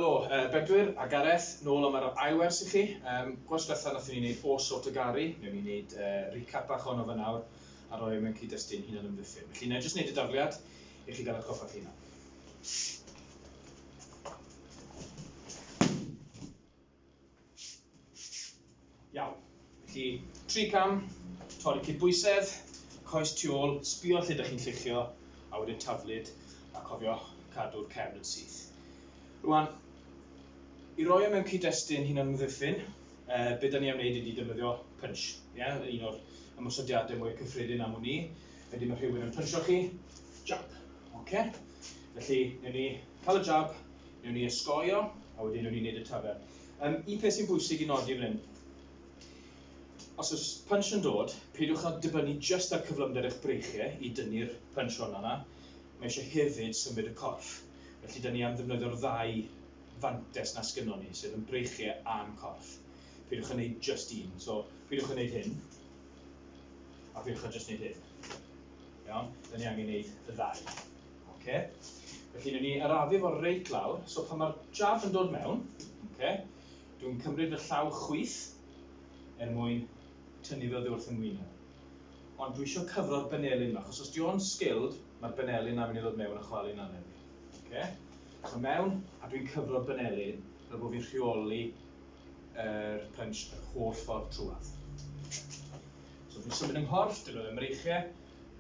Helo, yy Bedwyr a Gareth, nôl am yr ail wers i chi. Yym, gwers dwetha nathon ni neud O's Sort o Gari, newn ni neud yy recap bach ohono fe nawr a rhoi e mewn cyd-destun hunan ymddiffyn. Felly nâi jyst neud y dafliad i chi ga'l atgoffa'ch hunan. Iawn. Felly, tri cam, torri cydbwysedd, coes tu ôl, sbio lle ydych chi'n lluchio, a wedyn taflid, a cofio cadw'r cefn yn syth. Rwan, i roi o e mewn cyd-destun hyn o'n mddiffyn, e, beth da ni am wneud ydy defnyddio punch. Yeah? Un o'r ymwysodiadau mwy cyffredin am hwn i. Wedyn mae rhywun yn puncho chi, jab. Okay? Felly, newn ni cael y jab, Newn ni ysgoio, a wedyn newn ni wneud y tafer. Um, un peth sy'n bwysig i nodi fan hyn, os oes punch yn dod, peidiwch â dibynnu jyst ar cyflymder eich breichiau i dynnu'r punch hwn yna. Mae eisiau hefyd symud y corff. Felly, dyn ni am ddefnyddio'r ddau fantes na sgynnon ni, sef yn breichiau a'n corff. Peidiwch yn gwneud jyst un. So, peidiwch yn gwneud hyn, a peidiwch yn jyst gwneud hyn. Iawn? Dyn ni angen gwneud y ddau. Oce? Felly, newn ni arafu fo reit lawr. So, pan mae'r jab yn dod mewn, oce, dwi'n cymryd fy llaw chwith er mwyn tynnu fy wrth yn ngwyneb. Ond dwi eisiau cyfro'r benelin yma, achos os di o'n skilled, mae'r benelin na mynd i ddod mewn a chwalu'n aneb. Oce? So, mewn, a dwi'n cyfro'r benelin, fel bod fi'n rheoli yr punch yr holl ffordd trwad. So, dwi'n symud yng nghorff, dyn nhw ddim reichiau,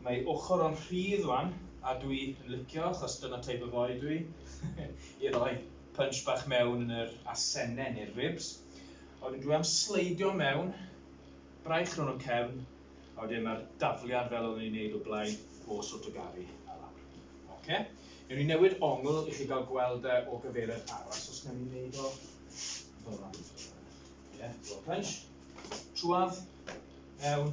Mae ochr o'n rhydd wan a dwi yn licio achos dyna type of oi dwi. I roi punch bach mewn yn yr asenne neu'r ribs. A wedyn dwi am sleidio mewn, braich rhwng y cefn, a wedyn mae'r dafliad fel oedden ni'n neud o blaen o Sotogari a lawr. Oce? Newn ni newid ongl i chi gael gweld e o gyfeiriad arall, so os newn ni neud o fel 'na. Ie, punch, trwadd, mewn,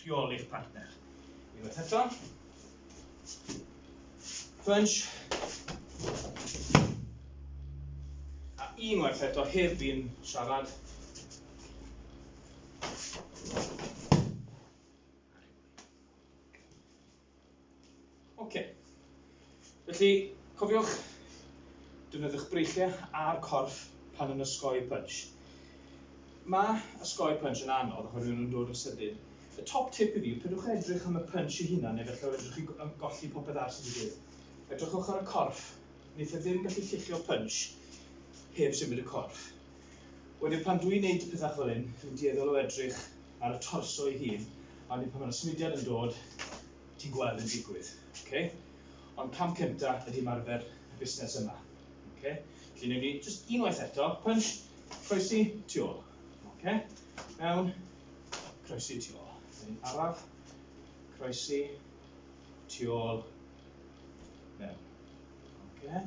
rheoli'r partner. Unwaith eto. Punch. A unwaith eto, heb fi'n siarad. Ok. Felly, cofiwch defnyddiwch breichiau a'r corff pan yn ysgoi punch. Mae ysgoi punch yn anodd oherwydd nhw'n dod yn sydyn. Y top tip i fi yw pidwch edrych am y punch i hunan neu felly edrych chi golli popeth ar sy'n digwydd. Edrychwch ar y corff. Wneith e ddim gallu lluchio punch heb symud y corff. Wedyn pan dwi'n neud pethach fel hyn, dwi'n dueddol o edrych ar y torso ei hun, a wedyn pan mae'r symudiad yn dod, ti'n gweld yn digwydd. Okay? Ond cam cynta ydy ymarfer y busnes yma. Okay? Felly newn ni jyst unwaith eto, punch, croesi, tu ôl. Okay? Mewn, croesi, tu ôl. Wedyn araf, croesi, tu ôl, mewn. Okay?